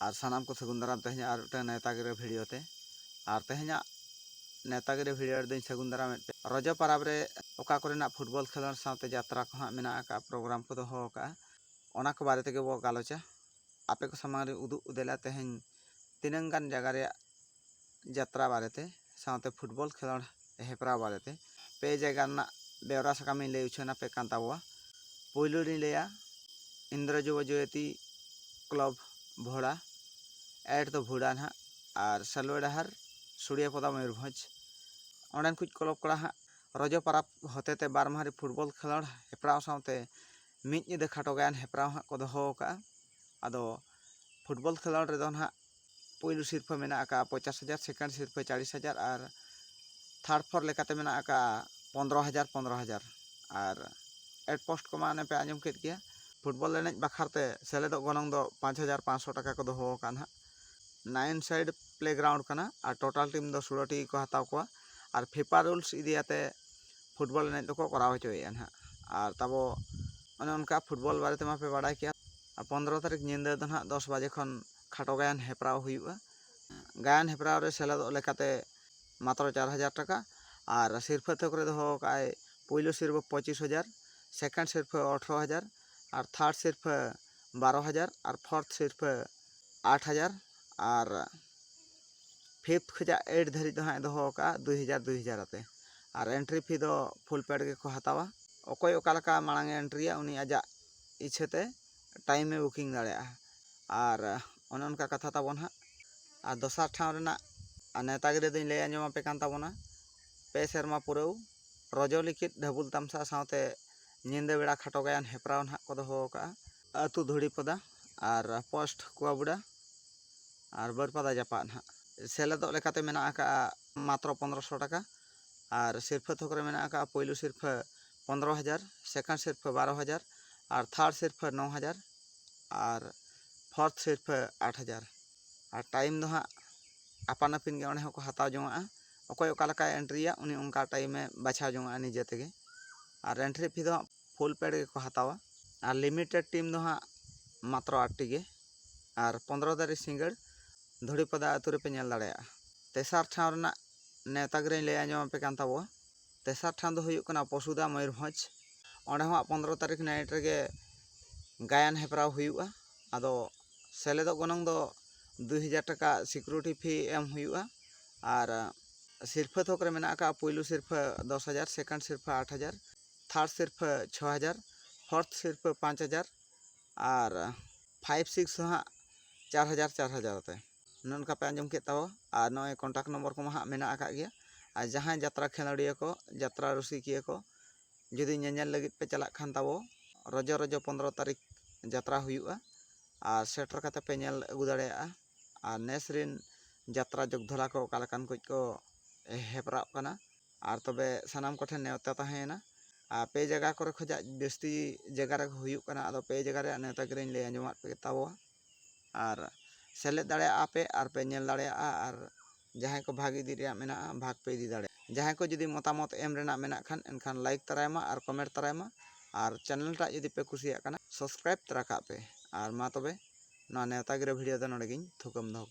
ᱟᱨ ᱥᱟᱱᱟᱢ ᱠᱚ ᱥᱟᱹᱜᱩᱱ ᱫᱟᱨᱟᱢ ᱛᱮᱦᱮᱧᱟᱜ ᱟᱨ ᱢᱤᱫᱴᱟᱝ ᱱᱮᱣᱛᱟ ᱜᱤᱨᱟᱹ ᱵᱷᱤᱰᱤᱭᱳ ᱛᱮ ᱟᱨ ᱛᱮᱦᱮᱧᱟᱜ ᱱᱮᱣᱛᱟ ᱜᱤᱨᱟᱹ ᱵᱷᱤᱰᱤᱭᱳ ᱨᱮᱫᱚᱧ ᱥᱟᱹᱜᱩᱱ ᱫᱟᱨᱟᱢᱮᱫ ᱯᱮ ᱨᱚᱡᱚ ᱯᱟᱨᱟᱵᱽ ᱨᱮ ᱚᱠᱟ ᱠᱚᱨᱮᱱᱟᱜ ᱯᱷᱩᱴᱵᱚᱞ ᱠᱷᱮᱞᱳᱰ ᱥᱟᱶᱛᱮ ᱡᱟᱛᱨᱟ ᱠᱚ ᱦᱟᱸᱜ ᱢᱮᱱᱟᱜ ᱟᱠᱟᱫᱼᱟ ᱯᱨᱳᱜᱨᱟᱢ ᱠᱚ ᱫᱚᱦᱚ ᱟᱠᱟᱫᱼᱟ ᱚᱱᱟ ᱠᱚ ᱵᱟᱨᱮ ᱛᱮᱜᱮ ᱵᱚ ᱜᱟᱞᱚᱪᱟ ᱟᱯᱮ ᱠᱚ ᱥᱟᱢᱟᱝ ᱨᱮ ᱩᱫᱩᱜ ᱩᱫᱮᱞᱟ ᱛᱮᱦᱮᱧ ᱛᱤᱱᱟᱹᱝ ᱜᱟᱱ ᱡᱟᱭᱜᱟ ᱨᱮᱭᱟᱜ ᱡᱟᱛᱨᱟ ᱵᱟᱨᱮᱛᱮ ᱥᱟᱶᱛᱮ ᱯᱷᱩᱴᱵᱚᱞ ᱠᱷᱮᱞᱚᱸᱰ ᱦᱮᱯᱨᱟᱣ ᱵᱟᱨᱮᱛᱮ ᱯᱮ ᱡᱟᱭᱜᱟ ᱨᱮᱱᱟᱜ ᱵᱮᱣᱨᱟ ᱥᱟᱠᱟᱢ ᱤᱧ ᱞᱟᱹᱭ ᱩᱪᱷᱟᱹᱱ ᱟᱯᱮ ᱠᱟᱱ ᱛᱟᱵᱚᱣᱟ ᱯᱩᱭᱞᱩ ᱨᱤᱧ ᱞᱟᱹᱭᱟ ᱤᱱᱫᱨᱚ ᱡᱩᱵᱚ ᱡᱚᱭᱚᱛᱤ ᱠᱞᱚᱵᱽ ᱵᱷᱚᱲᱟ ᱮᱴ ᱫᱚ ᱵᱷᱩᱲᱟ ᱱᱟᱦᱟᱜ ᱟᱨ ᱥᱟᱞᱣᱟ ᱰᱟᱦᱟᱨ ᱥᱩᱲᱤᱭᱟ ᱯᱚᱫᱟ ᱢᱚᱭᱩᱨᱵᱷᱚᱸᱡᱽ ᱚᱸᱰᱮᱱ ᱠᱚ ᱠᱞᱚᱵᱽ ᱠᱚᱲᱟ ᱦᱟᱸᱜ ᱨᱚᱡᱚ ᱯᱟᱨᱟᱵᱽ ᱦᱚᱛᱮ ᱛᱮ ᱵᱟᱨ ᱢᱟᱦᱟ ᱨᱮ ᱯᱷᱩᱴᱵᱚᱞ ᱠᱷᱮᱞᱚᱸᱰ ᱦᱮᱯᱨᱟᱣ ᱥᱟᱶᱛᱮ ᱢᱤᱫ ᱧᱤᱫᱟᱹ ᱠᱷᱟᱴᱚ ᱜᱟᱭᱟᱱ ᱦᱮᱯᱨᱟᱣ ᱦᱟᱸᱜ ᱠᱚ ᱫᱚᱦᱚ ᱟᱠᱟᱫᱼᱟ ᱟᱫᱚ ᱯᱷᱩᱴᱵᱚᱞ ᱠᱷᱮᱞᱚᱸᱰ ᱨᱮᱫᱚ ᱱᱟᱦᱟᱜ ᱯᱩᱭᱞᱩ ᱥᱤᱨᱯᱷᱟᱹ ᱢᱮᱱᱟᱜ ᱟᱠᱟᱫᱼᱟ ᱯᱚᱸᱪᱟᱥ ᱦᱟᱡᱟᱨ ᱥᱮᱠᱮᱱᱰ ᱥᱤᱨᱯᱷᱟᱹ ᱪᱟᱞᱤᱥ ᱦᱟᱡᱟᱨ ᱟᱨ ᱛᱷᱟᱨᱰ ᱯᱷᱳᱨ ᱞᱮᱠᱟᱛᱮ ᱢᱮᱱᱟᱜ ᱟᱠᱟᱫᱼᱟ ᱯᱚᱸᱫᱽᱨᱚ ᱦᱟᱡᱟᱨ ᱯᱚᱸᱫᱽᱨᱚ ᱦᱟᱡᱟᱨ ᱟᱨ ᱮᱰ ᱯᱳᱥᱴ ᱠᱚᱢᱟ ᱚᱱᱮ ᱯᱮ ᱟᱸᱡᱚᱢ ᱠᱮᱫ ᱜᱮᱭᱟ ᱯᱷᱩᱴᱵᱚᱞ ᱮᱱᱮᱡ ᱵᱟᱠᱷᱨᱟᱛᱮ ᱥᱮᱞᱮᱫᱚᱜ ᱜᱚᱱᱚᱝ ᱫᱚ ᱯᱟᱸᱪ ᱦᱟᱡᱟᱨ ᱯᱟᱸᱪᱥᱚ ᱴᱟᱠᱟ ᱠᱚ ᱫᱚᱦᱚ ᱟᱠᱟᱫᱼᱟ ᱱᱟᱦᱟᱜ ᱱᱟᱭᱤᱱ ᱥᱟᱭᱤᱰ ᱯᱞᱮ ᱜᱨᱟᱣᱩᱱᱰ ᱠᱟᱱᱟ ᱟᱨ ᱴᱳᱴᱟᱞ ᱴᱤᱢ ᱫᱚ ᱥᱳᱞᱳ ᱴᱤ ᱠᱚ ᱦᱟᱛᱟᱣ ᱠᱚᱣᱟ ᱟᱨ ᱯᱷᱤᱯᱟ ᱨᱩᱞᱥ ᱤᱫᱤᱭᱟᱛᱮ ᱯᱷᱩᱴᱵᱚᱞ ᱮᱱᱮᱡ ᱫᱚᱠᱚ ᱠᱚᱨᱟᱣ ᱦᱚᱪᱚᱭᱮᱫᱼᱟ ᱱᱟᱦᱟᱜ ᱟᱨ ᱛᱟᱵᱚ ᱚᱱᱮ ᱚᱱᱠᱟ ᱯᱷᱩᱴᱵᱚᱞ ᱵᱟᱨᱮ ᱛᱮᱢᱟ ᱯᱮ ᱵᱟᱲᱟᱭ ᱠᱮᱫ ᱯᱚᱸᱫᱽᱨᱚ ᱛᱟᱹᱨᱤᱠᱷ ᱧᱤᱫᱟᱹ ᱫᱚ ᱱᱟᱦᱟᱜ ᱫᱚᱥ ᱵᱟᱡᱮ ᱠᱷᱚᱱ ᱠᱷᱟᱴᱚ ᱜᱟᱭᱟᱱ ᱦᱮᱯᱨᱟᱣ ᱦᱩᱭᱩᱜᱼᱟ ᱜᱟᱭᱟᱱ ᱦᱮᱯᱨᱟᱣ ᱨᱮ ᱥᱮᱞᱮᱫᱚᱜ ᱞᱮᱠᱟᱛᱮ ᱢᱟᱛᱨᱚ ᱪᱟᱨ ᱦᱟᱡᱟᱨ ᱴᱟᱠᱟ ᱟᱨ ᱥᱤᱨᱯᱷᱟᱹ ᱛᱷᱚᱠ ᱨᱮ ᱫᱚᱦᱚ ᱟᱠᱟᱫ ᱟᱭ ᱯᱳᱭᱞᱳ ᱥᱤᱨᱯᱷᱟᱹ ᱯᱚᱸᱪᱤᱥ ᱦᱟᱡᱟᱨ ᱥᱮᱠᱮᱱᱰ ᱥᱤᱨᱯᱷᱟᱹ ᱟᱴᱷᱨᱚ ᱦᱟᱡᱟᱨ ᱟᱨ ᱛᱷᱟᱨᱰ ᱥᱤᱨᱯᱷᱟᱹ ᱵᱟᱨᱚ ᱦᱟᱡᱟᱨ ᱟᱨ ᱯᱷᱳᱨᱛᱷ ᱥᱤᱨᱯᱷᱟᱹ ᱟᱴ ᱦᱟᱡᱟᱨ ᱟᱨ ᱯᱷᱤᱯᱛᱷ ᱠᱷᱚᱱᱟᱜ ᱮᱭᱤᱴ ᱫᱷᱟᱹᱨᱤᱡ ᱫᱚ ᱦᱟᱸᱜ ᱮ ᱫᱚᱦᱚ ᱟᱠᱟᱫᱼᱟ ᱫᱩᱭ ᱦᱟᱡᱟᱨ ᱫᱩᱭ ᱦᱟᱡᱟᱨ ᱟᱛᱮ ᱟᱨ ᱮᱱᱴᱨᱤ ᱯᱷᱤ ᱫᱚ ᱯᱷᱩᱞ ᱯᱮᱰ ᱜᱮᱠᱚ ᱦᱟᱛᱟᱣᱟ ᱚᱠᱚᱭ ᱚᱠᱟ ᱞᱮᱠᱟ ᱢᱟᱲᱟᱝ ᱮ ᱮᱱᱴᱨᱤᱭᱟ ᱩᱱᱤ ᱟᱡᱟᱜ ᱤᱪᱪᱷᱟᱹ ᱛᱮ ᱴᱟᱭᱤᱢᱮ ᱵᱩᱠᱤᱝ ᱫᱟᱲᱮᱭᱟᱜᱼᱟ ᱟᱨ ᱚᱱᱮ ᱚᱱᱠᱟ ᱠᱟᱛᱷᱟ ᱛᱟᱵᱚᱱ ᱦᱟᱸᱜ ᱟᱨ ᱫᱚᱥᱟᱨ ᱴᱷᱟᱶ ᱨᱮᱱᱟᱜ ᱱᱮᱶᱛᱟ ᱜᱤᱨᱟᱹ ᱫᱚᱧ ᱞᱟᱹᱭ ᱟᱸᱡᱚᱢ ᱟᱯᱮ ᱠᱟᱱ ᱛᱟᱵᱚᱱᱟ ᱯᱮ ᱥᱮᱨᱢᱟ ᱯᱩᱨᱟᱹᱣ ᱨᱚᱡᱚ ᱞᱤᱠᱷᱤᱛ ᱰᱷᱟᱹᱵᱩᱞ ᱛᱟᱢᱥᱟ ᱥᱟᱶᱛᱮ ᱧᱤᱫᱟᱹ ᱵᱮᱲᱟ ᱠᱷᱟᱴᱚ ᱜᱟᱭᱟᱱ ᱦᱮᱯᱨᱟᱣ ᱦᱟᱸᱜ ᱠᱚ ᱫᱚᱦᱚ ᱟᱠᱟᱫᱼᱟ ᱟᱹᱛᱩ ᱫᱷᱩᱲᱤ ᱯᱚᱫᱟ ᱟᱨ ᱯᱳᱥᱴ ᱠᱩᱣᱟᱵᱩᱰᱟ ᱟᱨ ᱵᱟᱹᱨᱯᱟᱫᱟ ᱡᱟᱯᱟᱜ ᱦᱟᱸᱜ ᱥᱮᱞᱮᱫᱚᱜ ᱞᱮᱠᱟᱛᱮ ᱢᱮᱱᱟᱜ ᱟᱠᱟᱫᱼᱟ ᱢᱟᱛᱨᱚ ᱯᱚᱱᱨᱚ ᱥᱚ ᱴᱟᱠᱟ ᱟᱨ ᱥᱤᱨᱯᱷᱟᱹ ᱛᱷᱚᱠ ᱨᱮ ᱢᱮᱱᱟᱜ ᱟᱠᱟᱫᱼᱟ ᱯᱳᱭᱞᱳ ᱥᱤᱨᱯᱷᱟᱹ ᱯᱚᱱᱨᱚ ᱦᱟᱡᱟᱨ ᱥᱮᱠᱮᱱᱰ ᱥᱤᱨᱯᱟᱹ ᱵᱟᱨᱚ ᱦᱟᱡᱟᱨ ᱟᱨ ᱛᱷᱟᱨᱰ ᱥᱤᱨᱯᱟᱹ ᱱᱚ ᱦᱟᱡᱟᱨ ᱟᱨ ᱯᱷᱳᱨᱛᱷ ᱥᱤᱨᱯᱟᱹ ᱟᱴ ᱦᱟᱡᱟᱨ ᱟᱨ ᱴᱟᱭᱤᱢ ᱫᱚ ᱦᱟᱸᱜ ᱟᱯᱟᱱ ᱟᱹᱯᱤᱱ ᱜᱮ ᱚᱸᱰᱮ ᱦᱚᱸᱠᱚ ᱦᱟᱛᱟᱣ ᱡᱚᱱᱟᱜᱼᱟ ᱚᱠᱚᱭ ᱚᱠᱟ ᱞᱮᱠᱟᱭ ᱮᱱᱴᱨᱤᱭᱟ ᱩᱱᱤ ᱚᱱᱠᱟ ᱴᱟᱭᱤᱢᱮ ᱵᱟᱪᱷᱟᱣ ᱡᱚᱱᱟᱜᱼᱟ ᱱᱤᱡᱮ ᱛᱮᱜᱮ ᱟᱨ ᱮᱱᱴᱨᱤ ᱯᱷᱤ ᱫᱚ ᱦᱟᱸᱜ ᱯᱷᱩᱞ ᱯᱮᱰ ᱜᱮᱠᱚ ᱦᱟᱛᱟᱣᱟ ᱟᱨ ᱞᱤᱢᱤᱴᱮᱰ ᱴᱤᱢ ᱫᱚ ᱦᱟᱸᱜ ᱢᱟᱛᱨᱚ ᱟᱴ ᱴᱤ ᱜᱮ ᱟᱨ ᱯᱚᱱᱨᱚ ᱛᱟᱹᱨᱤᱠᱷ ᱥᱤᱸᱜᱟᱹᱲ ᱫᱷᱩᱲᱤᱯᱟᱫᱟ ᱟᱹᱛᱩ ᱨᱮᱯᱮ ᱧᱮᱞ ᱫᱟᱲᱮᱭᱟᱜᱼᱟ ᱛᱮᱥᱟᱨ ᱴᱷᱟᱶ ᱨᱮᱱᱟᱜ ᱱᱮᱣᱛᱟ ᱜᱤᱨᱟᱹᱧ ᱞᱟᱹᱭ ᱟᱸᱡᱚᱢ ᱟᱯᱮ ᱠᱟᱱ ᱛᱟᱵᱚᱣᱟ ᱛᱮᱥᱟᱨ ᱴᱷᱟᱶ ᱫᱚ ᱦᱩᱭᱩᱜ ᱠᱟᱱᱟ ᱯᱚᱥᱩᱫᱟ ᱢᱚᱭᱩᱨᱵᱷᱚᱸᱡᱽ ᱚᱸᱰᱮ ᱦᱚᱸ ᱯᱚᱸᱫᱽᱨᱚ ᱛᱟᱹᱨᱤᱠᱷ ᱱᱟᱭᱤᱴ ᱨᱮᱜᱮ ᱜᱟᱭᱟᱱ ᱦᱮᱯᱨᱟᱣ ᱦᱩᱭᱩᱜᱼᱟ ᱟᱫᱚ ᱥᱮᱞᱮᱫᱚᱜ ᱜᱚᱱᱚᱝ ᱫᱚ ᱫᱩᱭ ᱦᱟᱡᱟᱨ ᱴᱟᱠᱟ ᱥᱤᱠᱩᱨᱤᱴᱤ ᱯᱷᱤ ᱮᱢ ᱦᱩᱭᱩᱜᱼᱟ ᱟᱨ ᱥᱤᱨᱯᱷᱟᱹ ᱛᱷᱚᱠ ᱨᱮ ᱢᱮᱱᱟᱜ ᱟᱠᱟᱫᱼᱟ ᱯᱩᱭᱞᱩ ᱥᱤᱨᱯᱷᱟᱹ ᱫᱚᱥ ᱦᱟᱡᱟᱨ ᱥᱮᱠᱮᱱᱰ ᱥᱤᱨᱯᱷᱟᱹ ᱟᱴ ᱦᱟᱡᱟᱨ ᱛᱷᱟᱨᱰ ᱥᱤᱨᱯᱷᱟᱹ ᱪᱷᱚ ᱦᱟᱡᱟᱨ ᱯᱷᱳᱨᱛᱷ ᱥᱤᱨᱯᱷᱟᱹ ᱯᱟᱸᱪ ᱦᱟᱡᱟᱨ ᱟᱨ ᱯᱷᱟᱭᱤᱵᱽ ᱥᱤᱠᱥ ᱫᱚ ᱦᱟᱸᱜ ᱪᱟᱨ ᱦᱟᱡᱟᱨ ᱪᱟᱨ ᱦᱟᱡᱟᱨ ᱟᱛᱮ ᱚᱱᱮ ᱚᱱᱠᱟ ᱯᱮ ᱟᱸᱡᱚᱢ ᱠᱮᱫ ᱛᱟᱵᱚᱣᱟ ᱟᱨ ᱱᱚᱜᱼᱚᱭ ᱠᱚᱱᱴᱟᱠᱴ ᱱᱚᱢᱵᱚᱨ ᱠᱚᱢᱟ ᱦᱟᱸᱜ ᱢᱮᱱᱟᱜ ᱟᱠᱟᱫ ᱜᱮᱭᱟ ᱟᱨ ᱡᱟᱦᱟᱸᱭ ᱡᱟᱛᱨᱟ ᱠᱷᱮᱞᱳᱰᱤᱭᱟᱹ ᱠᱚ ᱡᱟᱛᱨᱟ ᱨᱩᱥᱤᱠᱤᱭᱟᱹ ᱠᱚ ᱡᱩᱫᱤ ᱧᱮᱧᱮᱞ ᱞᱟᱹᱜᱤᱫ ᱯᱮ ᱪᱟᱞᱟᱜ ᱠᱷᱟᱱ ᱛᱟᱵᱚ ᱨᱚᱡᱚ ᱨᱚᱡᱚ ᱯᱚᱸᱫᱽᱨᱚ ᱛᱟᱹᱨᱤᱠᱷ ᱡᱟᱛᱨᱟ ᱦᱩᱭᱩᱜᱼᱟ ᱟᱨ ᱥᱮᱴᱮᱨ ᱠᱟᱛᱮᱫ ᱯᱮ ᱧᱮᱞ ᱟᱹᱜᱩ ᱫᱟᱲᱮᱭᱟᱜᱼᱟ ᱟᱨ ᱱᱮᱥ ᱨᱮᱱ ᱡᱟᱛᱨᱟ ᱡᱚᱜᱽ ᱫᱷᱚᱨᱟ ᱠᱚ ᱚᱠᱟ ᱞᱮᱠᱟᱱ ᱠᱚ ᱠᱚ ᱦᱮᱯᱨᱟᱜ ᱠᱟᱱᱟ ᱟᱨ ᱛᱚᱵᱮ ᱥᱟᱱᱟᱢ ᱠᱚᱴᱷᱮᱱ ᱱᱮᱶᱛᱟ ᱛᱟᱦᱮᱸᱭᱮᱱᱟ ᱟᱨ ᱯᱮ ᱡᱟᱭᱜᱟ ᱠᱚᱨᱮ ᱠᱷᱚᱱᱟᱜ ᱡᱟᱹᱥᱛᱤ ᱡᱟᱭᱜᱟ ᱨᱮ ᱦᱩᱭᱩᱜ ᱠᱟᱱᱟ ᱟᱫᱚ ᱯᱮ ᱡᱟᱭᱜᱟ ᱨᱮᱭᱟᱜ ᱱᱮᱶᱛᱟ ᱜᱤᱨᱟᱹᱧ ᱞᱟᱹᱭ ᱟᱸᱡᱚᱢᱟᱫ ᱯᱮᱜᱮ ᱛᱟᱵᱚᱣᱟ ᱟᱨ ᱥᱮᱞᱮᱫ ᱫᱟᱲᱮᱭᱟᱜᱼᱟ ᱯᱮ ᱟᱨ ᱯᱮ ᱧᱮᱞ ᱫᱟᱲᱮᱭᱟᱜᱼᱟ ᱟᱨ ᱡᱟᱦᱟᱸᱭ ᱠᱚ ᱵᱷᱟᱜᱽ ᱤᱫᱤ ᱨᱮᱭᱟᱜ ᱢᱮᱱᱟᱜᱼᱟ ᱵᱷᱟᱜᱽ ᱯᱮ ᱤᱫᱤ ᱫᱟᱲᱮᱭᱟᱜᱼᱟ ᱡᱟᱦᱟᱸᱭ ᱠᱚ ᱡᱩᱫᱤ ᱢᱚᱛᱟᱢᱚᱛ ᱮᱢ ᱨᱮᱱᱟᱜ ᱢᱮᱱᱟᱜ ᱠᱷᱟᱱ ᱮᱱᱠᱷᱟᱱ ᱞᱟᱭᱤᱠ ᱛᱟᱨᱟᱭ ᱢᱟ ᱟᱨ ᱠᱚᱢᱮᱱᱴ ᱛᱟᱨᱟᱭ ᱢᱟ ᱟᱨ ᱪᱮᱱᱮᱞ ᱴᱟᱜ ᱡᱩᱫᱤ ᱯᱮ ᱠᱩᱥᱤᱭᱟᱜ ᱠᱟᱱᱟ ᱥᱟᱵᱥᱠᱨᱟᱭᱤᱵᱽ ᱛᱟᱨᱟ ᱠᱟᱜ ᱯᱮ ᱟᱨ ᱢᱟ ᱛᱚᱵᱮ ᱱᱚᱣᱟ ᱱᱮᱣᱛᱟ ᱜᱤᱨᱟᱹ ᱵᱷᱤᱰᱤᱭᱳ ᱫᱚ ᱱᱚᱰᱮ ᱜᱤᱧ ᱛᱷᱩᱠᱟᱹᱢ ᱫᱚᱦᱚ ᱠᱟᱜᱼᱟ